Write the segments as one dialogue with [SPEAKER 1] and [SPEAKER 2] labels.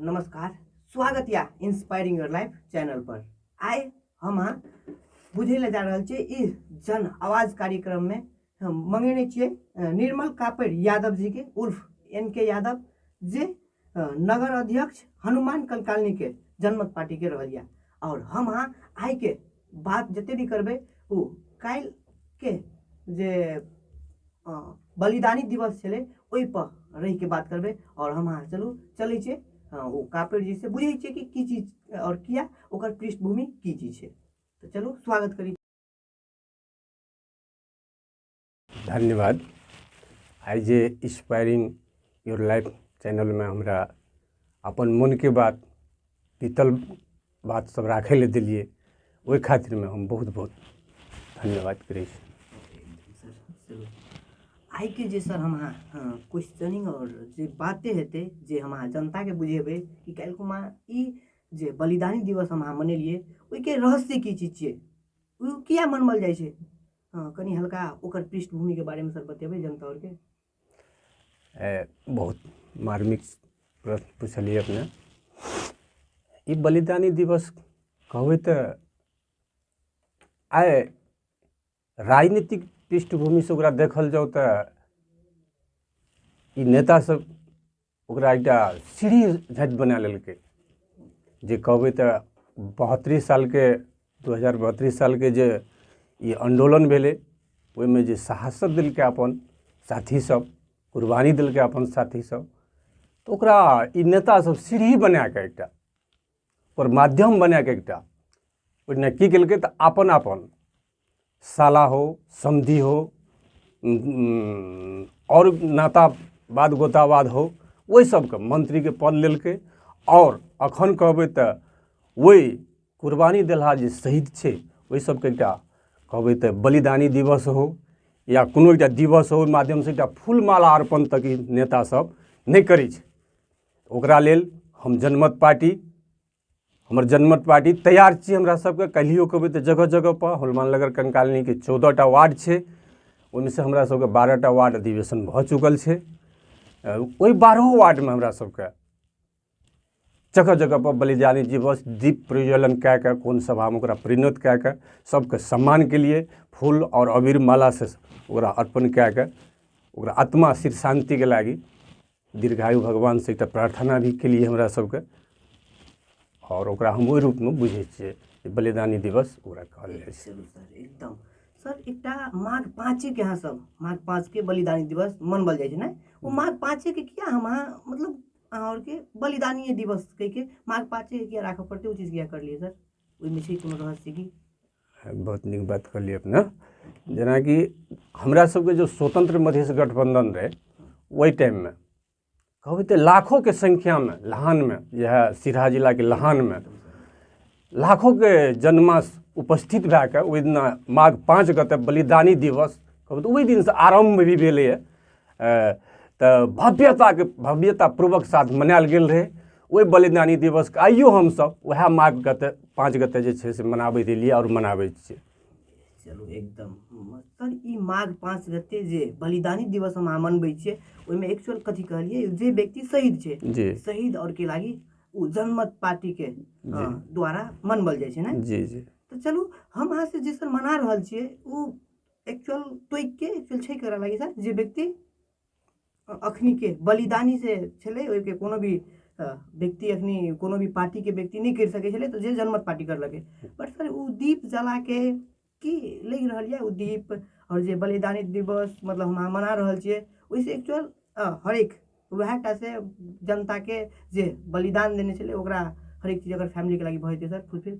[SPEAKER 1] नमस्कार स्वागत या इंस्पायरिंग योर लाइफ चैनल पर आइ हम अहाँ बुझे ले जा रहल छियै ई जन आवाज कार्यक्रम में हम मंगेने छियै अ, निर्मल कापड़ यादव जी के उर्फ एन के यादव जे अ, नगर अध्यक्ष हनुमान कलकालनी के जनमत पार्टी के रहल या और हम अहाँ आइ के बात जते भी करबे ओ कल के जे बलिदानी दिवस छलै ओहिपर रहिके बात करबै आओर हम अहाँ चलू चलै छियै हँ ओ कापेर जी से बुझै छियै कि की चीज आओर किया ओकर पृष्ठभूमि की चीज छै तऽ चलू स्वागत करी धन्यवाद आइ जे इंस्पायरिंग योर लाइफ चैनलमे हमरा अपन मोनके बात बीतल बात सब राखै लए देलियै ओहि खातिरमे हम बहुत बहुत धन्यवाद करै छी आइके जे सर हम अहाँ क्वेश्चनिंग आओर जे बाते हेतै जे हम अहाँ जनताके बुझेबै कि काल्हिखन हम अहाँ ई जे बलिदानी दिवस हम अहाँ मनेलियै ओहिके रहस्य की चीज छियै ओ किया मनाओल जाइ छै हँ कनि हल्का ओकर पृष्ठभूमिके बारेमे सर बतेबै जनता आओरके ए, बहुत मार्मिक प्रश्न पुछलियै अपने ई बलिदानी दिवस कहबै तऽ आइ राजनीतिक पृष्ठभूमिसँ ओकरा देखल जाउ तऽ ई नेतासभ ओकरा एकटा सीढ़ी झाँटि बना लेलकै जे कहबै तऽ बहत्तरि सालके दू हजार बहत्तरि सालके जे ई आन्दोलन भेलै ओहिमे जे शहादत देलकै अपन साथीसभ कुर्बानी देलकै अपन साथीसभ तऽ ओकरा ई नेतासभ सीढ़ी बना कऽ एकटा पर माध्यम बना के एकटा ओहिना की केलकै तऽ अपन अपन साला हो समधी हो उम, उम, और नाता बाद गोतावाद हो ओहि सबके मंत्री के पद लेलकै और अखन कहबै तऽ ओहि कुर्बानी देलहा जे शहीद छै ओहि सबके एकटा कहबै तऽ बलिदानी दिवस हो या कोनो एकटा दिवस हो ओहि माध्यमसँ एकटा फूलमाला अर्पण तक ई नेता सब नहि करै छै ओकरा लेल हम जनमत पार्टी हमर जनमत पार्टी तैयार छी हमरा सबके काल्हियो कहबै तऽ जगह जगह पर हनुमान नगर कंकालनीके चौदह टा वार्ड छै ओहिमे से हमरा सबके बारह टा वार्ड अधिवेशन भऽ चुकल छै अ, ओहि बारहो वार्डमे हमरा सबके जगह जगह पर बलिदानी दिवस दीप प्रज्वलन कए कऽ कोन सभामे ओकरा परिणत कए कऽ सबके सम्मान के लिए फूल और अबीर माला से ओकरा अर्पण कए कऽ ओकरा आत्मा शिर शान्तिके लागि दीर्घायु भगवानसँ एकटा प्रार्थना भी कयलियै हमरा सबके आओर ओकरा हम ओइ रूपमे बुझय छियै जे बलिदानी दिवस ओकरा कहल जाइ छै चलू सर एकदम सर एकटा माघ पाँचेके अहाँ सब माघ पाँचके बलिदानी दिवस मनबल जाइ छै ने ओ माघ पाँचेके किया हम अहाँ मतलब अहाँ आओरके बलिदानिये दिवस कहिके माघ पाँचे किया राखऽ पड़तै ओ चीज किया करलियै सर ओहिमे छै कोनो रहस्य की बहुत नीक बात कहलियै अपने जेनाकि हमरा सबके जे स्वतंत्र मधेश गठबंधन रहै ओहि टाइममे कहबै तऽ लाखोके संख्यामे लहानमे इएह सिरहा जिलाके लहानमे लाखोके जनमास उपस्थित भए कऽ ओहि दिना माघ पाँच गते बलिदानी दिवस कहबै तऽ ओहि दिनसँ आरम्भ भी भेलैए तऽ भव्यताके भव्यतापूर्वक साथ मनायल गेल रहै ओहि बलिदानी दिवसके आइयो हमसभ उएह माघ गते पाँच गते जे छै से मनाबैत एलियै आओर मनाबैत छियै चलू एकदम सर ई माघ पाँच गते जे बलिदानी दिवस हम अहाँ मनबै छियै ओहिमे एक्चुअल कथी कहलियै जे व्यक्ति शहीद छै जी शहीद और के लागी ओ जनमत पार्टी के अ, द्वारा मनबल जाइ छै ने जी जी तऽ चलू हम अहाँ से जे सर मना रहल छियै ओ एक्चुअल तोइक के एक्चुअल छै करा लगी सर जे व्यक्ति अखनी के बलिदानी से छले ओहि के कोनो भी व्यक्ति अखनी कोनो भी पार्टी के व्यक्ति नहीं कर सके छले तो जे जनमत पार्टी कर लगे बट सर वो दीप जला के की लग रहा है वो दीप और जे बलिदानी दिवस मतलब हम मना रहा छे वैसे एक्चुअल हर एक वह टा से जनता के जे बलिदान देने छले ओकरा हर एक चीज अगर फैमिली के लगी बहुत सर फुलफिल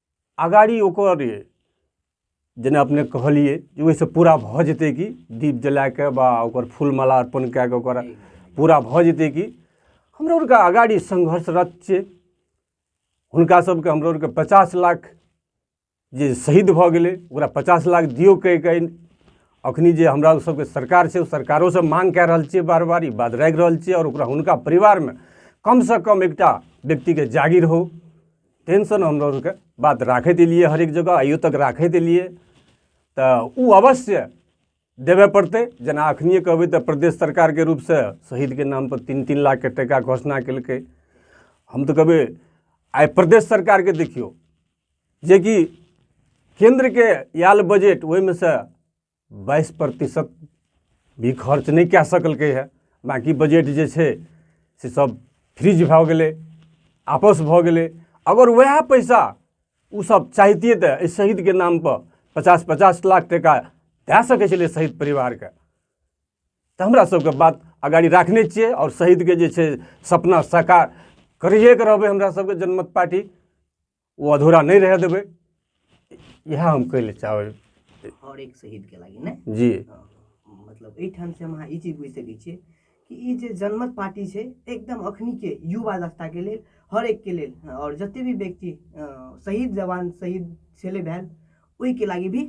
[SPEAKER 1] अगाड़ी ओकर जेना अपने कहलिए जे ओहिसँ पूरा भऽ जेतै कि दीप जलाके बा ओकर फूल माला अर्पण कए कऽ ओकर पूरा भऽ जेतै कि हमरा आरके अगाड़ी संघर्षरत छियै हुनका सबके हमरा आरके पचास लाख जे शहीद भऽ गेलै ओकरा पचास लाख दियौ कहि कहि अखनी जे हमरा सबके सरकार छै ओ सरकारोसँ मांग कए रहल छियै बार बार ई बात राखि रहल छियै आओर ओकरा हुनका परिवारमे कमसँ कम एकटा व्यक्तिके जागिर हो टेंशन हमरा आरके बात राखैत एलियै हरेक जगह आइयो तक राखैत एलियै तऽ ओ अवश्य देबे पड़तै जेना अखनिए कहबै तऽ प्रदेश सरकारके रूपसँ शहीदके नामपर तीन तीन लाखके टाका घोषणा केलकै हम तऽ कहबै आइ प्रदेश सरकारके देखियौ जेकि केन्द्रके आयल बजट ओहिमे सँ बाइस प्रतिशत भी खर्च नहि कए सकलकै हँ बाँकी बजट जे छै से सब फ्रीज भऽ गेलै आपस भऽ गेलै अगर वएह पैसा ओ सब चाहितियै तऽ एहि शहीदके नाम पर पचास पचास लाख टका दए सकै छलै शहीद परिवारके तऽ हमरा सबके बात अगाड़ी राखने छियै आओर शहीदके जे छै सपना साकार करिएके रहबै हमरा सबके जनमत पार्टी ओ अधूरा नहि रहै देबै इएह हम कहै लए चाहबै हर एक शहीदके लागि ने जी मतलब एहिठाम से हम अहाँ ई चीज बुझि सकै छियै कि ई जे जनमत पार्टी छै एकदम अखनीके युवा दस्ताके लेल हर एकके लेल आओर जते भी व्यक्ति शहीद जवान शहीद छेलै भेल ओहिके लागि भी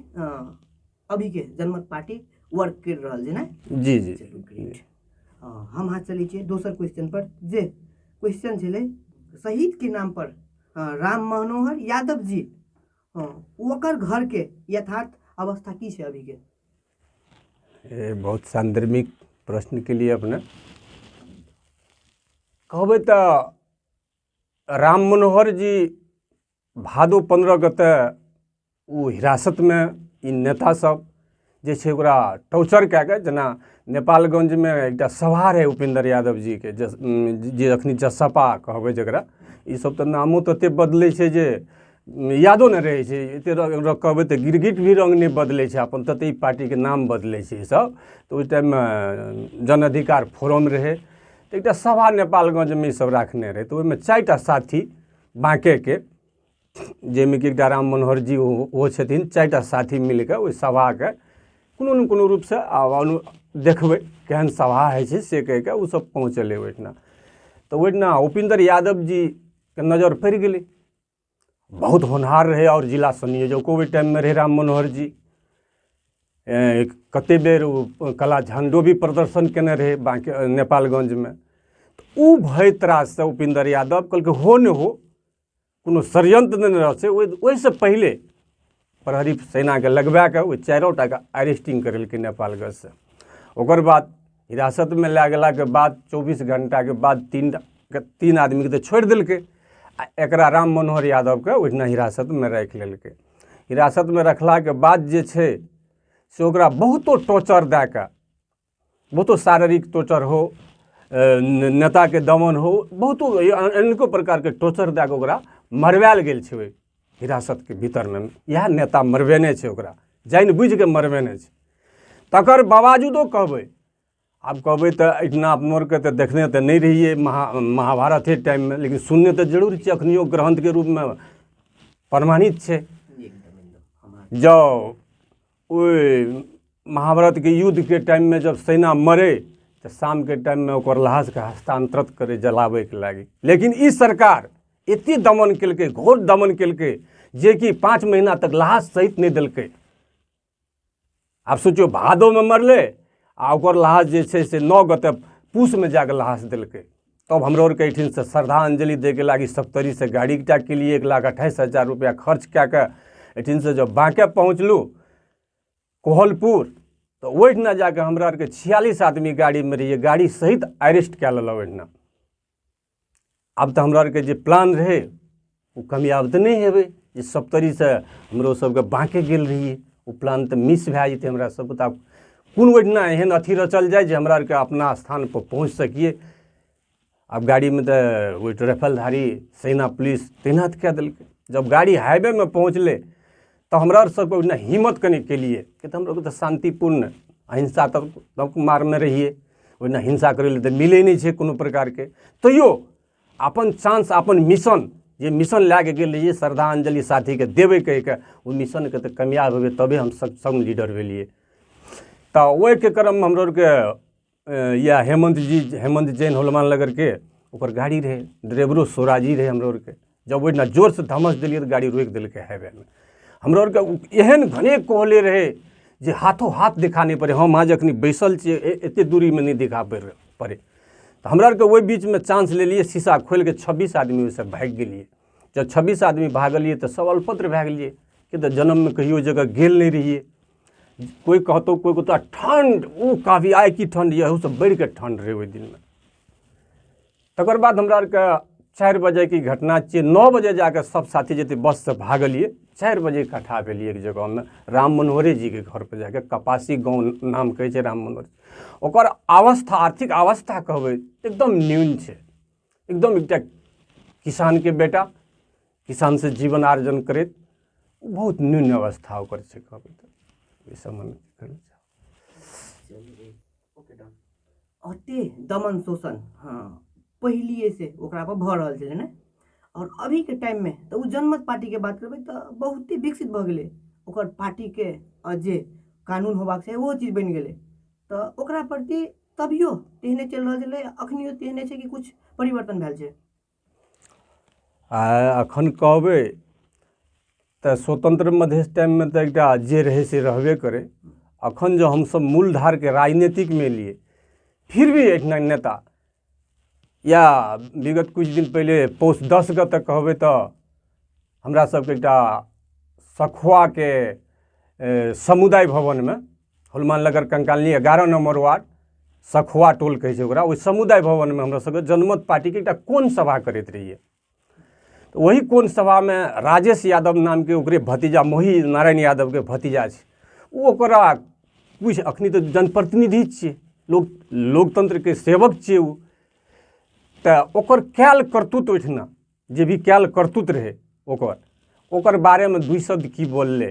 [SPEAKER 1] अभी के जनमत पार्टी वर्क कर रहल छै ने जी जी चलू ग्रेट हम अहाँ चलै छियै दोसर क्वेश्चन पर जे क्वेश्चन छलै शहीद के नाम पर अ, राम मनोहर यादव जी हँ ओकर घर के यथार्थ अवस्था की छै अभी के ए, बहुत सान्दर्भिक प्रश्न के लिए अपने कहबै तऽ राम मनोहर जी भादो पन्द्रहके तऽ ओ हिरासतमे ई नेता सब जे छै ओकरा टॉर्चर कए कऽ जेना नेपालगंजमे एकटा सभा रहै उपेन्द्र यादव जीके जे अखनी जसपा कहबै जकरा ई सब तऽ नामो तते बदलै छै जे यादो नहि रहै छै एते कहबै तऽ गिरगिट भी रंग नहि बदलै छै अपन तते पार्टीके नाम बदलै छै सब तऽ ओहि टाइममे जन अधिकार फोरम रहै तऽ एकटा सभा नेपालगंजमे ई सब राखने रहै तऽ ओहिमे चारिटा साथी बाँकेके जाहिमे कि एकटा राम मनोहर जी ओ ओ छथिन चारि टा साथी मिलि कऽ ओहि सभाके कोनो ने कोनो रूपसँ आब अनु देखबै केहन सभा होइ छै से कहि कऽ ओसभ पहुँचलै ओहिठिना तऽ ओहिठिना उपेन्द्र यादव जीके नजर पड़ि गेलै बहुत होनहार रहै आओर जिला संयोजको ओहि टाइममे रहै राम मनोहर जी कतेक बेर ओ कला झण्डो भी प्रदर्शन कयने रहै बाँकी नेपालगंजमे तऽ ओ भय त्राससँ उपेन्द्र यादव कहलकै हो नहि हो कोनो षडयन्त्र नहि रहल छै ओहि ओहिसँ पहिले प्रहरी सेनाकेँ लगबा कऽ ओहि चारिओ टाके अरेस्टिंग करेलकै नेपालगंजसँ ओकर बाद हिरासतमे लए गेलाके बाद चौबीस घंटाके बाद तीन तीन आदमीके तऽ छोड़ि देलकै आ एकरा राम मनोहर यादवके ओहिना हिरासतमे राखि लेलकै हिरासतमे रखलाके बाद जे छै से ओकरा बहुतो टॉर्चर दए कऽ बहुतो शारीरिक टॉर्चर हो नेताके दमन हो बहुतो अनेको प्रकारके टॉर्चर दए कऽ ओकरा मरवायल गेल छै ओहि हिरासतके भीतरमे इएह नेता मरबेने छै ओकरा जानि बुझि कऽ मरबेने छै तकर बावजूदो कहबै आब कहबै तऽ एहिठिना अपनो आरके तऽ देखने तऽ नहि रहियै महा महाभारते टाइममे लेकिन सुनने तऽ जरूर छियै अखनियो ग्रन्थके रूपमे प्रमाणित छै जाउ ओहि महाभारतके युद्धके टाइममे जब सेना मरे तऽ शामके टाइममे ओकर लाशके हस्तांतरित करै जलाबैके लागी लेकिन ई सरकार एते दमन केलकै घोर दमन केलकै जेकि पाँच महीना तक लाश सहित नहि देलकै आब सोचियौ भादोमे मरलै आ ओकर लाश जे छै से नओ गते पूसमे जाके लाश देलकै तब हमरो आरके एहिठिनसँ श्रद्धाञ्जलि दैके लागी सप्तरीसँ गाड़ी एकटा केलिए एक लाख अट्ठाइस हजार रुपैआ खर्च कए कऽ एहिठिनसँ जब बाँके पहुँचलहुँ कोहलपुर तऽ ओहिठिना जा कऽ हमरा आरके छियालिस आदमी गाड़ीमे रहियै गाड़ी सहित अरेस्ट कए लेलक ओहिठिना आब तऽ हमरा आरके जे प्लान रहै ओ कामयाब तऽ नहि हेबै जे सप्तरीसँ हमरो सबके बाँके गेल रहियै ओ प्लान तऽ मिस भए जेतै हमरा सबके तऽ आब कोन ओहिठिना एहन अथी रचल जाय जे हमरा आरके अपना स्थानपर पहुँच सकियै आब गाड़ीमे तऽ ओहि ट्रेफलधारी सेना पुलिस तैनात कए देलकै जब गाड़ी हाइवेमे पहुँचलै तऽ हमरा आर सबके ओहिना हिम्मत कनि केलियै कि तऽ हमलोग तऽ शान्तिपूर्ण अहिंसा तब तब मारमे रहियै ओहिना हिंसा करै लए तऽ मिलै नहि छै कोनो प्रकारके तैयो अपन चांस अपन मिशन जे मिशन लए कऽ गेल रहियै श्रद्धांजलि साथीके देबै कहि कऽ ओ मिशनके तऽ कामयाब हेबै तबे हम सक्षम लीडर भेलियै तऽ ओहिके क्रममे हमरो आरके या हेमंत जी हेमंत जैन होलमान लगरके ओकर गाड़ी रहै ड्राइवरो सोराजी रहै हमरो आरके जब ओहिना जोरसँ धमस देलियै तऽ गाड़ी रोकि देलकै हाईवेमे हमरो आरके एहन घने कहले रहै जे हाथो हाथ देखा नहि पड़ै हम आज एखन बैसल छियै एतेक दूरीमे नहि देखा पड़ि पड़ै तऽ हमरा आरके ओहि बीचमे चांस लेलियै शीशा खोलि कऽ छब्बीस आदमी ओहिसँ भागि गेलियै जब छब्बीस आदमी भागलियै तऽ सब अल्पत्र भए गेलियै कि तऽ जन्ममे कहियो ओहि जगह गेल नहि रहियै कोइ कहतौ कोइ कहतौ आ ठण्ड ओ काफी आइ की ठण्ड यऽ ओहूसँ बढ़ि कऽ ठण्ड रहै ओहि दिनमे तकर बाद हमरा आरके चारि बजेके घटना छियै नओ बजे जाके सब साथी जते बससँ भागलियै चारि बजे इकट्ठा भेलियै एक जगहमे राम मनोहरे जीके घरपर जाके कपासी गाँव नाम कहै छै राम मनोहर ओकर अवस्था आर्थिक अवस्था कहबै एकदम न्यून छै एकदम एकटा किसानके बेटा किसानसँ जीवन आर्जन करैत बहुत न्यून अवस्था ओकर छै कहबै तऽ एहि सम्बन्ध करै छै अते दमन शोषण हँ पहिलिएसँ ओकरापर भऽ रहल छलै ने आओर अभीके टाइममे तऽ ओ जनमत पार्टीके बात करबै तऽ बहुते विकसित भऽ गेलै ओकर पार्टीके जे कानून होयबाक चाही ओहो चीज बनि गेलै तऽ ओकरा प्रति तभियो तेहने चलि रहल छलै अखनियो तेहने छै कि किछु परिवर्तन भेल छै आ अखन कहबै तऽ स्वतंत्र मधेश टाइममे तऽ एकटा जे रहै से रहबे करै अखन जँ हमसभ मूलधारके राजनीतिकमे एलियै फिर भी एहिठिना नेता या विगत किछु दिन पहिले पौष दसके तऽ कहबै तऽ हमरा सबके एकटा सखुआके ए, समुदाय भवनमे हनुमान नगर कंकालनी एगारह नंबर वार्ड सखुआ टोल कहै छै ओकरा ओहि समुदाय भवनमे हमरा सबके जनमत पार्टीके एकटा कोन सभा करैत रहियै ओही कोन सभामे राजेश यादव नामके ओकरे भतीजा मोही नारायण यादवके भतीजा छै ओ ओकरा किछु अखनी तऽ जनप्रतिनिधि छियै लोक लोकतंत्रके सेवक छियै ओ तऽ ओकर कयल करतूत ओहिठिना जे भी कयल करतूत रहै ओकर ओकर बारेमे दू शब्द की बोललै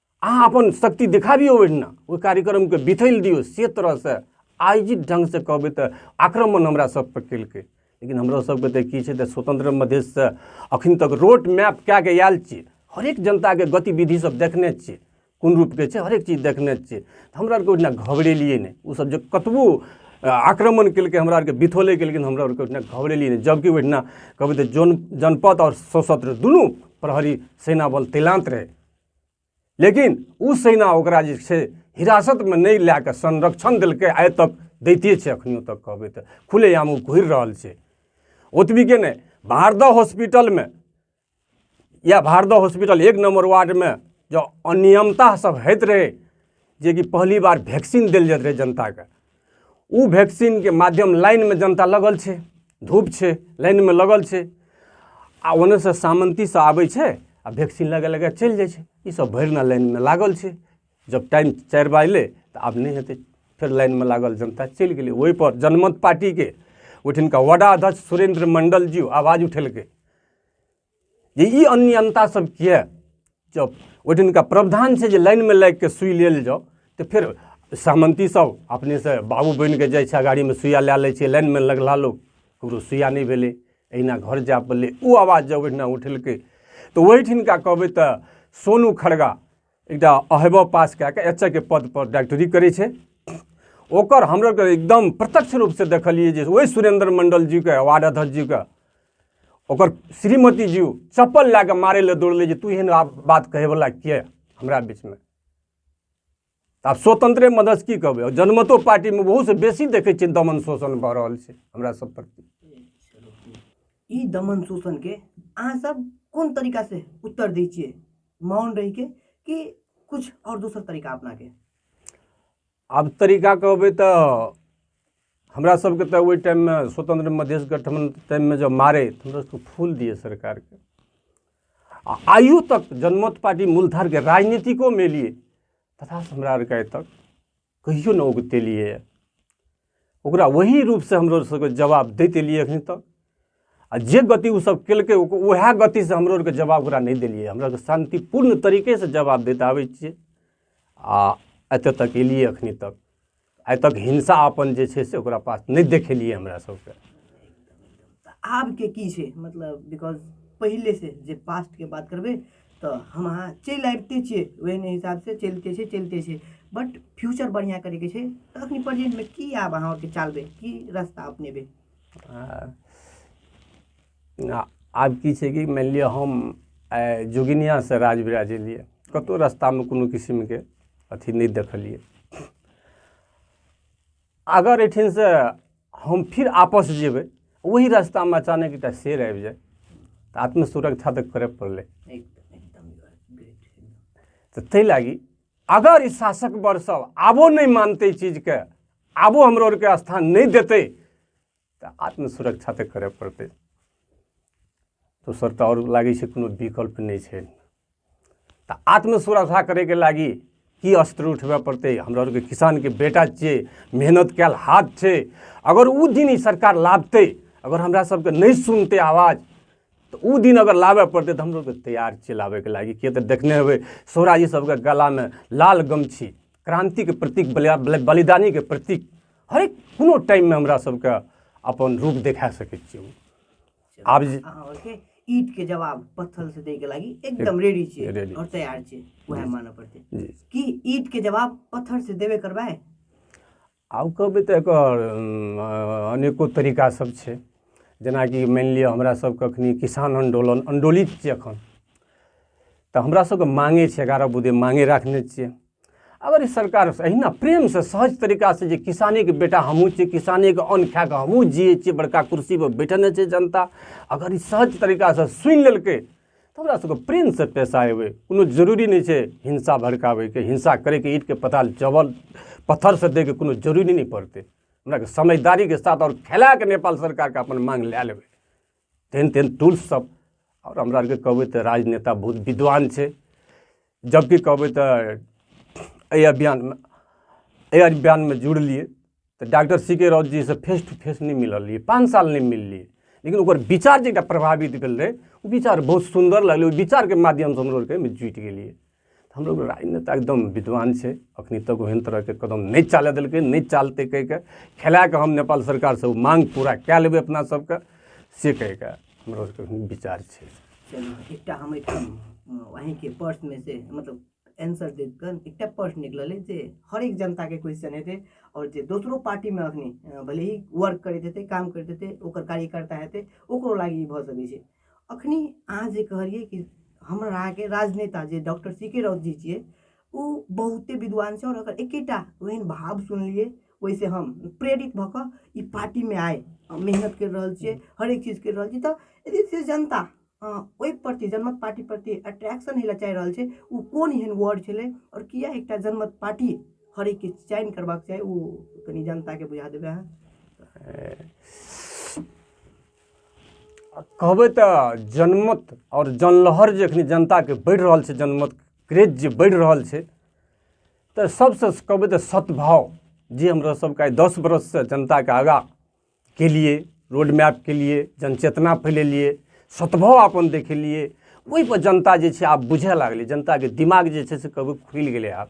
[SPEAKER 1] अहाँ अपन शक्ति देखाबियौ ओहिना ओहि कार्यक्रमके बिथैल दियौ से तरहसँ आयोजित ढङ्गसँ कहबै तऽ आक्रमण हमरा सभपर केलकै लेकिन हमरा सभके तऽ की छै तऽ स्वतंत्र मधेशसँ अखन तक रोड मैप कए कऽ आयल छियै हरेक जनताके गतिविधि सब देखने छियै कोन रूपके छै हरेक चीज देखने छियै हमरा आरके ओहिना घबरेलियै नहि ओसभ जे कतबो आक्रमण केलकै हमरा आरके बिथोले केलकै हमरा आरके ओहिना घबरेलियै नहि जबकि ओहिना कहबै तऽ जन जनपद आओर सशस्त्र दुनू प्रहरी सेना बल तैनात रहै लेकिन ओ सेना ओकरा जे छै हिरासतमे नहि लए कऽ संरक्षण देलकै आइ तक दैते छै एखनियो तक कहबै तऽ खुलेआम ओ घुरि रहल छै ओतबीके नहि भारदा हॉस्पिटलमे या भारदा हॉस्पिटल एक नम्बर वार्डमे जँ अनियमता सब होइत रहै जेकि पहली बार वैक्सीन देल जाइत रहै जनताके ओ वैक्सीनके माध्यम लाइनमे जनता लगल छै धूप छै लाइनमे लगल छै आ ओन्नेसँ सामन्तीसँ आबै छै आ वैक्सीन लगा लगा चलि जाइ छै ईसभ भरि दिना लाइनमे लागल छै जब टाइम चारि बाजलै तऽ आब नहि हेतै फेर लाइनमे लागल जनता चलि गेलै ओहिपर जनमत पार्टीके ओहिठिनका वडा अध्यक्ष सुरेन्द्र मण्डल जी आवाज उठेलकै जे ई अनियमता सब किए जब ओहि दिनका प्रावधान छै जे लाइनमे लागि कऽ सुइ लेल जाउ तऽ फेर सहमति सब अपनेसँ बाबू बनि कऽ जाइ छै गाड़ीमे सुइया लए लै छै लाइनमे लगला लोक ककरो सुइया नहि भेलै अहिना घर जाय पड़लै ओ आवाज जब ओहिना उठेलकै तऽ ओहिठिनका कहबै तऽ सोनू खड़गा एकटा अहबा पास कए कऽ एच के पदपर डाक्टरी करै छै ओकर हमरा के एकदम प्रत्यक्ष रूपसँ देखलियै जे ओहि सुरेंद्र मंडल जीके वार्ड अध्यक्ष जीके ओकर श्रीमती जी चप्पल लए कऽ मारै लए दौड़लै जे तू एहन आब बात कहैवला किए हमरा बीचमे तऽ आब स्वतंत्रे मदद की कहबै आओर जनमतो पार्टीमे ओहूसँ बेसी देखै छियै दमन शोषण भऽ रहल छै हमरा सब प्रति ई दमन शोषणके अहाँ सब कोन तरीकासँ उत्तर दै छियै मौन रही के कि कुछ और दोसर तरीका अपना के आब तरीका कहबै तऽ हमरा सबके तऽ ओहि टाइममे स्वतंत्र मधेश गठबंधन टाइममे जब मारे तऽ हमरा सबके फूल दिए सरकारके आ आइयो तक जनमत पार्टी मूलधारके राजनीतिकोमे एलियै तथा हमरा आरके आइ तक कहियो नहि उगतेलियै यऽ ओकरा ओही रूपसँ हमरो सबके जवाब दैत एलियै एखन तक आ जे गति ओ सब केलकै उएह गतिसँ हमरो आरके जवाब ओकरा नहि देलियै हमरा आरके शान्तिपूर्ण तरीकेसँ जवाब दैत आबै छियै आ एतऽ तक एलियै एखन तक आइ तक हिंसा अपन जे छै से ओकरा पास नहि देखेलियै हमरा सबके आबके की छै मतलब बिकॉज पहिले से जे पास्टके बात करबै तऽ हम अहाँ चलि आबिते छियै ओहने हिसाबसँ चलिते छै चलिते छै बट फ्यूचर बढ़िआँ करैके छै तऽ अखनी प्रेजेंटमे की आब अहाँ ओते चालबै की रास्ता अपनेबै आ- आब की छै कि मानि लिअ हम आइ जोगिनियासँ राज विराज एलियै कतहु रस्तामे कोनो किसिमके अथी नहि देखलियै अगर एहिठिनसँ हम फिर आपस जेबै ओही रास्तामे अचानक एकटा शेर आबि जाय तऽ आत्मसुरक्षा तऽ करय पड़लै तऽ ताहि लागी अगर ई शासक वर्ग सब आबो नहि मानतै चीजके आबो हमरो आरके स्थान नहि देतै तऽ आत्मसुरक्षा तऽ करय पड़तै दोसर तऽ आओर लागै छै कोनो विकल्प नहि छै तऽ आत्मसुरक्षा करयके लागी की अस्त्र उठबय पड़तै हमरा आरके किसानके बेटा छियै मेहनत कयल हाथ छै अगर ओ दिन ई सरकार लाभतै अगर हमरा सबके नहि सुनतै आवाज तऽ ओ दिन अगर लाबय पड़तै तऽ हमलोग तैयार छियै लाबयके लागी किए तऽ देखने हेबै सोहराजी सबके गलामे लाल गमछी क्रान्तिके प्रतीक बलिदानीके प्रतीक हरेक कोनो टाइममे हमरा सबके अपन रूप देखा सकै छियै ओ। आब जे- अहाँ ओके ईट के जवाब पत्थर से दे के लागी एकदम रेडी छियै Ready। और तैयार छियै वएह मानऽ पड़तै जी कि ईट के जवाब पत्थर से देबे करबै आब कहबै तऽ एकर अम, अ, अनेको तरीका सब छै जेनाकि मानि लिअ हमरा सबके अखनी किसान आंदोलन आंदोलित छै एखन तऽ हमरा सबके मांगे छै एगारह बुधे मांगे राखने छियै अगर ई सरकार अहिना प्रेमसँ सहज तरीकासँ जे किसानेके बेटा हमहूँ छियै किसानेके अन्न खाए कऽ हमहूँ जियै छियै बड़का कुर्सीपर बैठने छै जनता अगर ई सहज तरीकासँ सुनि लेलकै तऽ हमरा सबके प्रेमसँ पैसा अयबै कोनो जरूरी नहि छै हिंसा भड़काबैके हिंसा करैके ईटके पता जबल पत्थरसँ दैके कोनो जरूरी नहि पड़तै हमरा समझदारीके साथ आओर खेलाके नेपाल सरकारके अपन माँग लए लेबै तेहन तेहन टूल्ससब आओर हमरा आओरके कहबै तऽ राजनेता बहुत विद्वान छै जबकि कहबै तऽ एहि अभियानमे एहि अभियानमे जुड़लिए तऽ डॉक्टर सी के राउत जीसँ फेस टू फेस नहि मिलल रहिए पाँच साल नहि मिललिए लेकिन ओकर विचार जे एकटा प्रभावित भेल रहै ओ विचार बहुत सुन्दर लगलै ओहि विचारके माध्यमसँ हमरो आओरके जुटि गेलिए हमरो राजनेता एकदम विद्वान छै अखनी तक ओहन तरहके कदम नहि चालय देलकै नहि चालतै कहिके खेला कऽ हम नेपाल सरकारसँ ओ मांग पूरा कए लेबै अपना सबके से कहिके हमरो सबके विचार छै चलू एकटा हम एहिठाम अहींके पर्समे से मतलब एन्सर देख कऽ एकटा पर्स निकलल अइ जे हरेक जनताके क्वेश्चन हेतै आओर जे दोसरो पार्टीमे अखनी अ, भले ही वर्क करैत हेतै काम करैत हेतै ओकर कार्यकर्ता हेतै ओकरो लागि ई भऽ सकै छै अखनी अहाँ जे कहलियै कि हमर अहाँके राजनेता जे doctor C K Raut ji छियै ओ बहुते विद्वान छै आओर ओकर एकेटा ओहन भाव सुनलियै ओहिसँ हम प्रेरित भऽ कऽ ई पार्टीमे आइ हम मेहनत करि रहल छियै हरेक चीज करि रहल छी तऽ यदि से जनता अ, ओहि प्रति जनमत पार्टी प्रति अट्रैक्शन हेला चाहि रहल छै ओ कोन एहन वर्ड छलै आओर किया एकटा जनमत पार्टी हरेकके चयन करबाक चाही ओ कनि जनताके बुझा देबै अहाँ कहबै तऽ जनमत आओर जनलहर जे एखन जनताके बढ़ि रहल छै जनमत क्रेज जे बढ़ि रहल छै तऽ सबसँ कहबै तऽ सद्भाव जे हमरा सबके आइ दस बरससँ जनताके आगाँ केलियै रोड मैप केलियै जनचेतना फैलेलियै सद्भाव अपन देखेलियै ओइपर जनता जे छै आब बुझऽ लागलै जनताके दिमाग जे छै से कहबै खुलि गेलै आब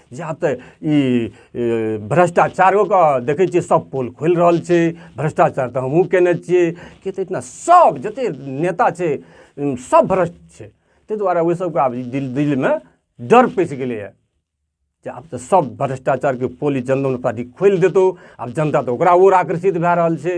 [SPEAKER 1] या तऽ ई भ्रष्टाचारोके देखै छियै सब पोल खोलि रहल छै भ्रष्टाचार तऽ हमहुँ केने छियै किएक तऽ एहिठिना सब जते नेता छै सब भ्रष्ट छै तै दुआरे ओहि सबके आब दिल दिलमे डर पैस गेलैया जे आब तऽ सब भ्रष्टाचारके पोल ई जनता पार्टी खोलि देतौ आब जनता तऽ ओकरा ओर आकर्षित भए रहल छै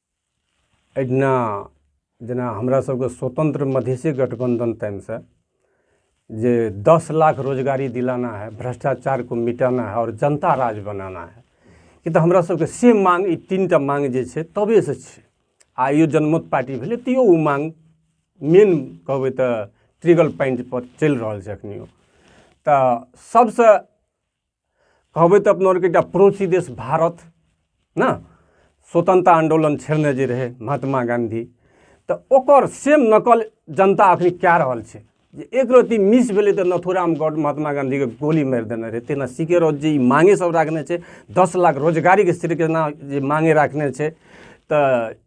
[SPEAKER 1] एहिना जेना हमरा सबके स्वतंत्र मधेसी गठबंधन टाइम से जे दस लाख रोजगारी दिलाना है भ्रष्टाचार को मिटाना है और जनता राज बनाना है कि तऽ हमरा सबके से मांग ई तीन टा मांग जे छै तबे से छै आ यो जनमत पार्टी भेलै तैयो ओ मांग मेन कहबै तऽ ट्रिगल पॉइंट पर चलि रहल छै अखनियो तऽ सबसँ कहबै तऽ अपना आरके एकटा पड़ोसी देश भारत ने स्वतंत्रता आंदोलन छेड़ने जे रहै महात्मा गांधी तऽ ओकर सेम नकल जनता अखन कए रहल छै जे एक रत्ती मिस भेलै तऽ नथुराम गौड महात्मा गांधीके गोली मारि देने रहै तेना सीके रोज जे ई मांगे सब राखने छै दस लाख रोजगारीके श्रीकृष्णा जे मांगे राखने छै तऽ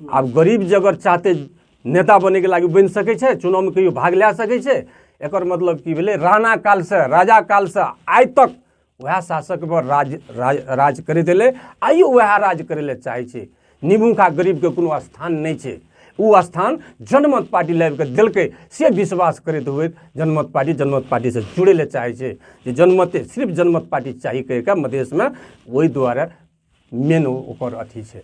[SPEAKER 1] आब गरीब जे अगर चाहतै नेता बनैके लागि बनि सकै छै चुनावमे कहियो भाग लए सकै छै एकर मतलब की भेलै राणा कालसँ राजा कालसँ आइ तक वएह शासक पर राज राज राज करैत एलै आइयो वएह राज करै लए चाहै छै निमुखा गरीबके कोनो स्थान नहि छै ओ स्थान जनमत पार्टी लाबि कऽ देलकै से विश्वास करैत हुए जनमत पार्टी जनमत पार्टीसँ जुड़ै लए चाहै छै जे जनमते सिर्फ जनमत पार्टी चाही कहि कऽ मधेशमे ओहि दुआरे मेन ओकर अथी छै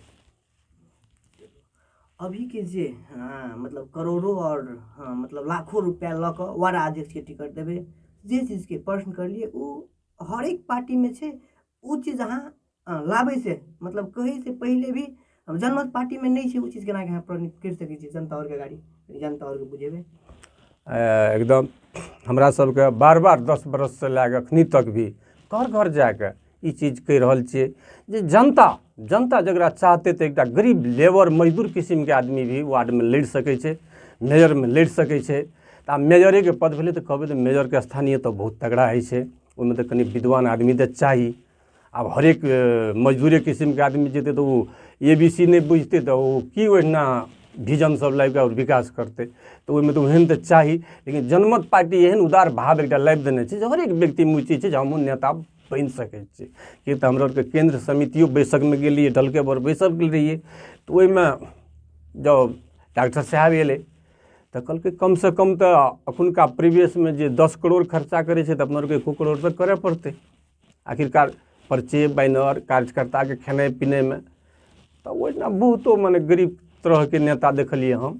[SPEAKER 1] अभी के जे हाँ, मतलब करोड़ों और हाँ, मतलब लाखों रुपया लऽ कऽ वार्ड अध्यक्ष के टिकट देबै जे चीज के प्रश्न करलिए ओ हर एक पार्टी में छै ओ चीज अहाँ हाँ, लाबै से मतलब कहै से पहिले भी हम जनमत पार्टी में नहीं छै ओ चीज केना के अहाँ प्रश्न करि सकै छी जनता और के गाड़ी जनता और के बुझेबै आ, एकदम हमरा सबके बार बार दस बरससँ लए कऽ एखनी तक भी घर घर जा कऽ ई चीज कहि रहल छियै जे जनता जनता जकरा चाहतै तऽ एकटा गरीब लेबर मजदूर किसिमके आदमी भी वार्डमे लड़ि सकै छै मेयरमे लड़ि सकै छै तऽ आब मेयरेके पद भेलै तऽ कहबै तऽ मेयरके स्थानीय तऽ बहुत तगड़ा होइ छै ओहिमे तऽ कनि विद्वान आदमी तऽ चाही आब हरेक मजदूरे किसिमके आदमी जेतै तऽ ओ ए बी सी नहि बुझतै तऽ ओ की ओहिना विजन सब लाबि कऽ विकास करतै तऽ ओहिमे तऽ ओहन तऽ चाही लेकिन जनमत पार्टी एहन उदार भाव एकटा लाबि देने छै जे हरेक व्यक्तिमे ओ चीज छै जे हमहूँ नेता बनि सकै छै किए तऽ हमरा आरके केन्द्र समितियो बैसकमे गेलियै डलके बर बैसल गेल रहियै तऽ ओहिमे जब डॉक्टर साहब एलै तऽ कहलकै कमसँ कम तऽ एखुनका प्रीवियसमे जे दस करोड़ खर्चा करै छै तऽ अपना आरके एको करोड़ तऽ करय पड़तै आखिरकार पर्चे बैनर कार्यकर्ताके खेनाइ पिनाइमे तऽ ओहिना बहुतो मने गरीब तरहके नेता देखलियै हम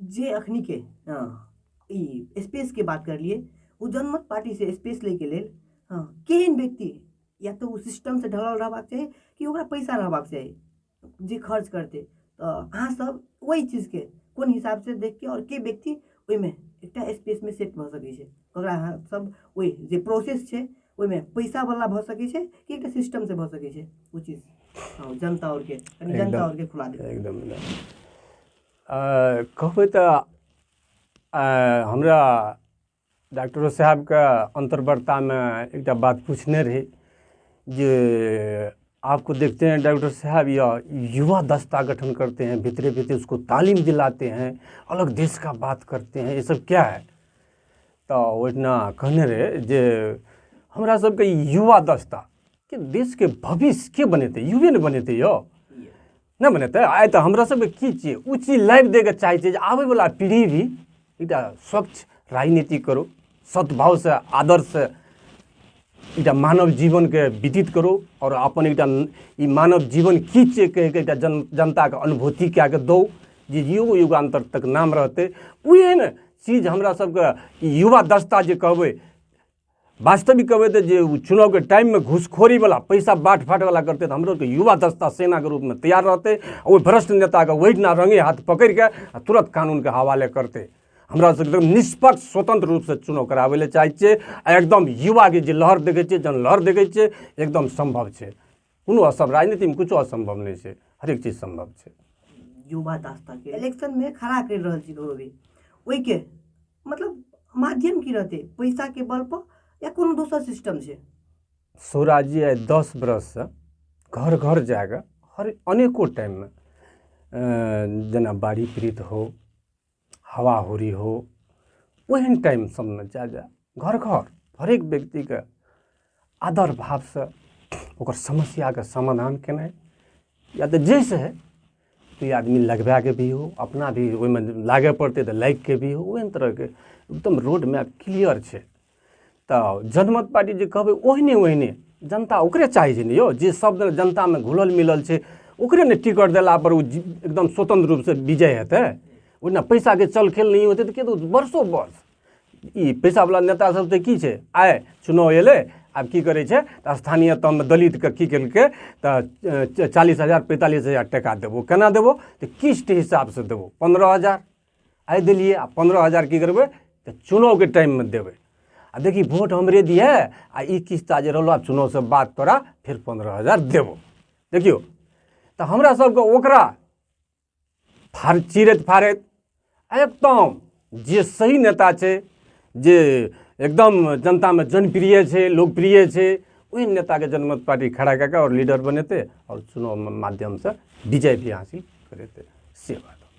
[SPEAKER 1] जे अखनी के हँ ई स्पेस के बात कर लिए ओ जनमत पार्टी से स्पेस ले के लेल हँ केहन व्यक्ति या तो ओ सिस्टम से ढलल रहबाक चाही कि ओकरा पैसा रहबाक चाही जे खर्च करते तऽ अहाँ सब ओहि चीज के कोन हिसाब से देख के आओर के व्यक्ति ओहिमे एकटा स्पेस मे सेट भऽ सकै छै ओकरा अहाँ सब ओहि जे प्रोसेस छै ओहिमे पैसावला भऽ सकै छै कि एकटा सिस्टमसँ भऽ सकै छै ओ चीज हँ, जनता आओर के कनि जनता एकदम। आओर के खुला देबै एकदम एकदम आ, कहबै तऽ आ, हमरा डॉक्टरो साहबके अन्तर्वार्तामे एकटा बात पूछने रही जे आपको देखते हैं डॉक्टर साहब या युवा दस्ता गठन करते हैं भीतरे भीतरे उसको तालीम दिलाते हैं अलग देश का बात करते हैं ये सब क्या है तऽ ओहिना कहने रहै जे हमरा सबके युवा दस्ता कि देशके भविष्य के बनेतै युवे ने बनेतै यौ नहि बनेतै आइ तऽ हमरा सबके की छियै ओ चीज लाबि दैके चाहै छै जे आबैवला पीढ़ी भी एकटा स्वच्छ राजनीति करो सद्भावसँ आदर्शसँ एकटा मानव जीवनके व्यतीत करो आओर अपन एकटा ई मानव जीवन की छियै कहिके एकटा जन जनताके अनुभूति कए कऽ दौ जे युग युगान्तर तक नाम रहतै उएह ने चीज हमरा सबके ई युवा दस्ता जे कहबै वास्तविक कहबै तऽ जे ओ चुनावके टाइममे घुसखोरीवला पैसा बाँट फाँटवला करतै तऽ हमरो सबके युवा दस्ता सेनाके रूपमे तैयार रहतै आ ओहि भ्रष्ट नेताके ओहिना रंगे हाथ पकड़ि कऽ आ तुरंत कानूनके हवाले करतै हमरा सबके एकदम निष्पक्ष स्वतंत्र रूपसँ चुनाव कराबै लए चाहै छियै आ एकदम युवाके जे लहर देखै छियै जन लहर देखै छियै एकदम सम्भव छै कोनो असम राजनीतिमे किछो असम्भव नहि छै हरेक चीज सम्भव छै युवा दास्ताके इलेक्शनमे खड़ा करि रहल छी ककरो भी ओहिके मतलब माध्यम की रहतै पैसाके बलपर या कोनो दोसर सिस्टम छै स्वराज्य आइ दस बरससँ घर घर जा कऽ हर अनेको टाइममे जेना बाढ़ि पीड़ित हो हवाहुरी हो ओहन टाइम सबमे जाए जाए घर घर हरेक व्यक्तिके आदर भावसँ ओकर समस्याके समाधान केनाइ या तऽ जाहिसँ हइ ई आदमी लगबाके भी हो अपना भी ओहिमे लागै पड़तै तऽ लागिके भी हो ओहन तरहके एकदम रोड मैप क्लियर छै तऽ जनमत पार्टी जे कहबै ओहने ओहने जनता ओकरे चाहै छै ने यौ जे सब जनतामे घुलल मिलल छै ओकरे ने टिकट देलापर ओ एकदम स्वतंत्र रूपसँ विजय हेतै ओहिना पैसाके चलखेल नहि होतै तऽ केतौ वर्षो वर्ष ई पैसावला नेता सब तऽ की छै आइ चुनाव एलै आब की करै छै तऽ स्थानीय तहमे दलितके की केलकै तऽ चालीस हजार पैंतालीस हजार टाका देबो केना देबो तऽ किस्त हिसाबसँ देबो पन्द्रह हजार आइ देलियै आ पन्द्रह हजार की करबै तऽ चुनावके टाइममे देबै आ देखी वोट हमरे दिहे आ ई किस्ता जे रहलो आब चुनावसँ बाद तोरा फेर पन्द्रह हजार देबो देखियौ तऽ हमरा सबके ओकरा फाड़ चिरैत फाड़ैत एकदम जे सही नेता छै जे एकदम जनतामे जनप्रिय छै लोकप्रिय छै ओहि नेताके जनमत पार्टी खड़ा कए कऽ आओर लीडर बनेतै आओर चुनावमे माध्यमसँ विजय भी हासिल करेतै से बात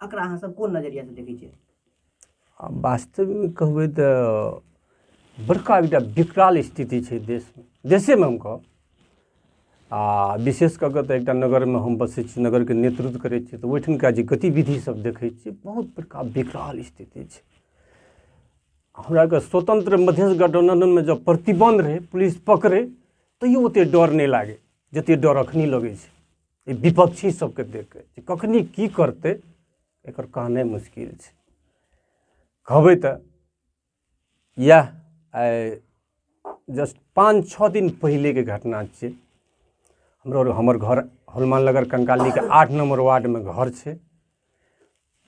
[SPEAKER 1] एकरा अहाँ सब कोन नजरिया से देखै छियै आ वास्तवमे कहबै तऽ बड़का एकटा विकराल स्थिति छै देशमे देशेमे हम कहब आ विशेष कऽ कऽ तऽ एकटा नगरमे हम बसै छी नगरके नेतृत्व करै छी तऽ ओहिठुनका जे गतिविधि सब देखै छी बहुत बड़का विकराल स्थिति छै हमराके स्वतंत्र मधेश गठबन्धनमे जब प्रतिबन्ध रहै पुलिस पकड़ै तैयो ओतेक डर नहि लागै जतेक डर एखनी लगै छै ई विपक्षी सबके देख के जे कखनी की करतै एकर कहनाइ मुश्किल छै कहबै तऽ इएह आइ जस्ट पाँच छः दिन पहिलेके घटना छियै हमरो हमर घर हनुमान नगर कंकालीके आठ नंबर वार्डमे घर छै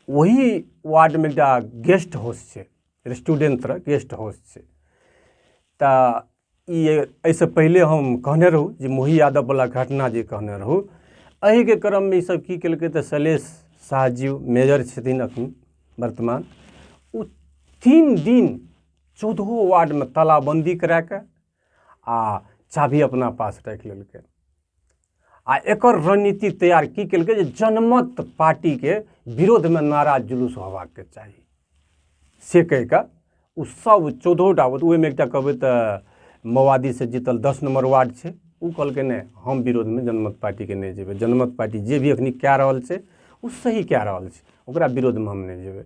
[SPEAKER 1] ओही वार्डमे एकटा गेस्ट हाउस छै रेस्टोरेंट तरह गेस्ट हाउस छै तऽ ई एहिसँ पहिले हम कहने रहौँ जे मोही यादववला घटना जे कहने रहौँ एहिके क्रममे ईसभ की केलकै तऽ शैलेश शाह जी मेजर छथिन एखन वर्तमान ओ तीन दिन चौदहो वार्डमे तालाबन्दी करा कऽ आ चाभी अपना पास राखि लेलकै आ एकर रणनीति तैयार की केलकै जे जनमत पार्टीके विरोधमे नारा जुलूस होबाक के चाही से कहि कऽ ओ सब चौदहो टा वोट ओहिमे एकटा कहबै तऽ माओवादीसँ जीतल दस नम्बर वार्ड छै ओ कहलकै नहि हम विरोधमे जनमत पार्टीके नहि जेबै जनमत पार्टी जे भी एखनी कए रहल छै ओ सही कए रहल छै ओकरा विरोधमे हम नहि जेबै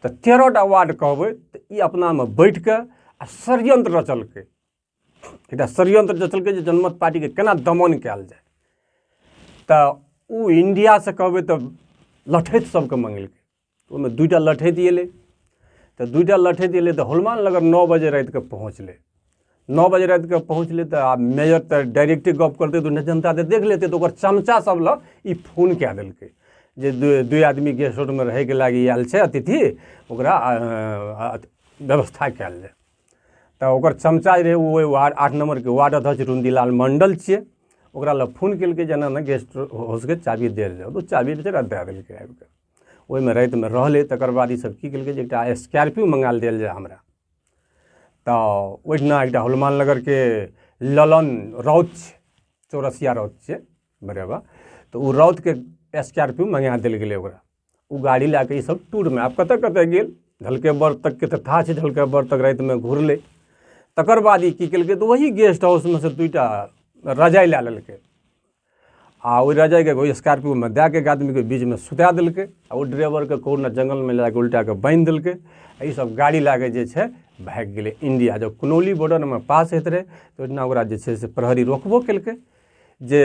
[SPEAKER 1] तऽ तेरह टा वार्ड कहबै तऽ ई अपनामे बैठ कऽ आ षड्यंत्र रचलकै एकटा षड्यंत्र रचलकै जे जनमत पार्टीके केना दमन कयल जाय तऽ ओ इंडियासँ कहबै तऽ लठैत सबके मंगेलकै ओहिमे दूटा लठैत एलै तऽ दूटा लठैत एलै तऽ हनुमान नगर नओ बजे रातिके पहुँचलै नओ बजे रातिके पहुँचलै तऽ आब मेयर तऽ डायरेक्टे गप करतै तऽ जनता तऽ देख लेतै तऽ ओकर चमचा सब लग ई फोन कए देलकै जे दुइ आदमी गेस्ट हाउसमे रहैके लागि आयल छै अतिथि ओकरा व्यवस्था कयल जाय तऽ ओकर चमचा जे रहै ओ ओहि वार्ड आठ नम्बरके वार्ड अध्यक्ष रुन्दिलाल मण्डल छियै ओकरा लग फोन केलकै जेना ने गेस्ट हाउसके चाबी देल जाउ तऽ ओ चाबी बेचारा दए देलकै आबि कऽ ओहिमे रातिमे रहलै तकर बाद ईसभ की केलकै जे एकटा स्कॉर्पियो मंगाल देल जाय हमरा तऽ ओहिठिना एकटा हनुमान नगरके ललन राउत छै चौरसिया राउत छै बरेबा तऽ ओ राउतके स्कॉर्पियो मंगा देल गेलै ओकरा ओ गाड़ी लए कऽ ईसभ टूरमे आब कतय कतय गेल ढलकेबर तकके तऽ थाह छै ढलकेबर तक रातिमे घुरलै तकर बाद ई की केलकै तऽ ओही गेस्ट हाउसमे सँ दू टा रजाइ लए लेलकै आ ओहि रजाइके ओहि स्कॉर्पियोमे दए कऽ एक आदमीके बीचमे सुता देलकै आ ओ ड्राइवरके कोरोना जङ्गलमे लए कऽ उल्टा कऽ बान्हि देलकै आ ईसभ गाड़ी लए कऽ जे छै भागि गेलै इंडिया जब कुनौली बॉर्डरमे पास होइत रहै तऽ ओहिना ओकरा जे छै से प्रहरी रोकबो केलकै जे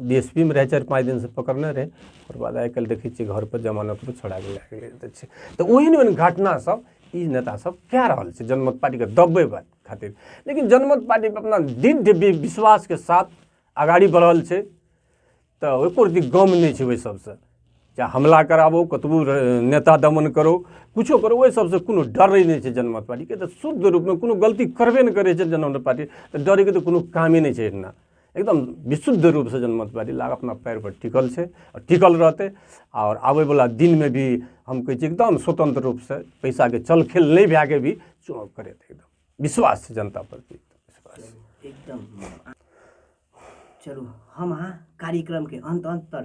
[SPEAKER 1] बी एस पी मे रहै चारि पाँच दिनसँ पकड़ने रहै ओकर बाद आइ काल्हि देखै छियै घर पर जमानत पर छोड़ा गेल लए गेल तऽ छै तऽ ओहन ओहन घटना सब ई नेता सब कए रहल छै जनमत पार्टीके दबबै खातिर लेकिन जनमत पार्टी अपना दृढ़ विश्वासके साथ अगाड़ी बढ़ल छै तऽ ओहि पर जे गम नहि छै ओहि सबसँ चाहे हमला कराबो कतबो नेता दमन करो किछो करो ओहि सबसँ कोनो डरै नहि छै जनमत पार्टीके तऽ शुद्ध रूपमे कोनो गलती करबे नहि करै छै जनमत पार्टी तऽ डरैके तऽ कोनो कामे नहि छै एहिना एकदम विशुद्ध रूपसँ जनमत बाड़ी लाग अपना पैरपर टिकल छै आओर टिकल रहतै आओर आबैवला दिनमे भी हम कहै छी एकदम स्वतन्त्र रूपसँ पैसाके चलखेल नहि भए कऽ भी चुनाव करैत एकदम विश्वास छै जनता प्रति विश्वास एकदम चलू हम अहाँ कार्यक्रमके अन्त अन्त पर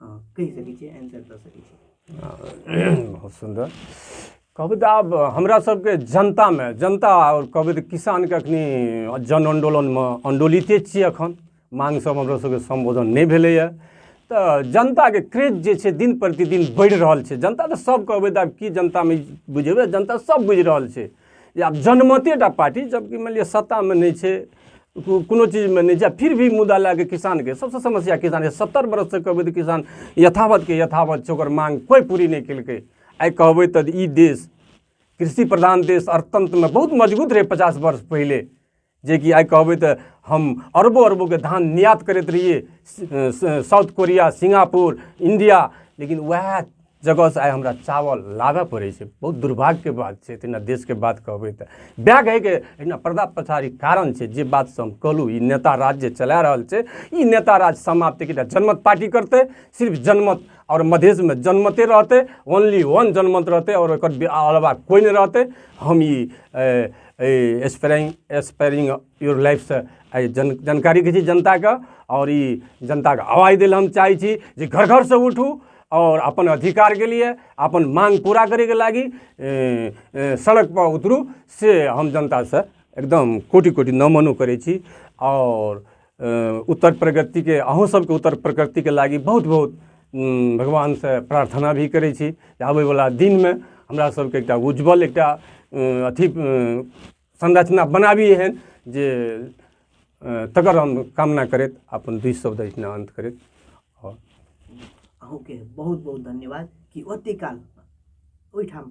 [SPEAKER 1] कहि सकै छियै आन्सर दऽ सकै छियै बहुत सुन्दर कविता आब हमरा सबके जनतामे जनता आओर कविता किसानके अखनी जन आन्दोलनमे आन्दोलिते छियै अखन मांग सब हमरा सबके सम्बोधन नहि भेलैए तऽ जनताके क्रेज जे छै दिन प्रतिदिन बढ़ि रहल छै जनता तऽ सब कविता की जनतामे बुझेबै जनता सब बुझि रहल छै या जनमते टा पार्टी जबकि मानि लिअ सत्तामे नहि छै को- कोनो चीजमे नहि छै फिर भी मुद्दा लए कऽ किसानके सबसँ समस्या किसान सत्तर बरससँ कहबै तऽ किसान यथावतके यथावत छै ओकर मांग कोइ पूरी नहि केलकै आइ कहबै तऽ ई देश कृषि प्रधान देश अर्थतंत्रमे बहुत मजबूत रहै पचास वर्ष पहिले जेकि आइ कहबै तऽ हम अरबो अरबोके धान निर्यात करैत रहियै साउथ कोरिया सिंगापुर इंडिया लेकिन उएह जगहसँ आइ हमरा चावल लाबय पड़ै छै बहुत दुर्भाग्यके बात छै तहिना देशके बात कहबै तऽ बैग हइके एहिना पर्दा पछाड़ी कारण छै जे बातसँ हम कहलहुँ ई नेता राज जे चला रहल छै ई नेता राज समाप्त एकटा जनमत पार्टी करतै सिर्फ जनमत आओर मधेशमे जनमते रहतै ओनली वन जनमत रहतै आओर ओकर अलावा कोइ नहि रहतै हम ई एहि स्प्रेइंग स्प्रेइंग योर लाइफसँ एहि जन जानकारी दै छी जनताके आओर ई जनताके आवाज दै लए हम चाहै छी जे घर घरसँ उठू आओर अपन अधिकारके लिए अपन मांग पूरा करैके लागी सड़कपर उतरू से हम जनतासँ एकदम कोटि कोटि नमनो करै छी आओर अ, उत्तर प्रगति के अहूँ सबके उत्तर प्रगति के लागी बहुत बहुत उम, भगवान से प्रार्थना भी करै छी जे आबै वाला दिन में हमरा सबके एकटा उज्जवल एकटा अ, अथी अ, संरचना बनाबी एहन जे अ, तकर हम कामना करैत अपन दुई शब्द एहिना अंत करैत आओर अहूँके बहुत बहुत धन्यवाद कि ओते काल ओहिठाम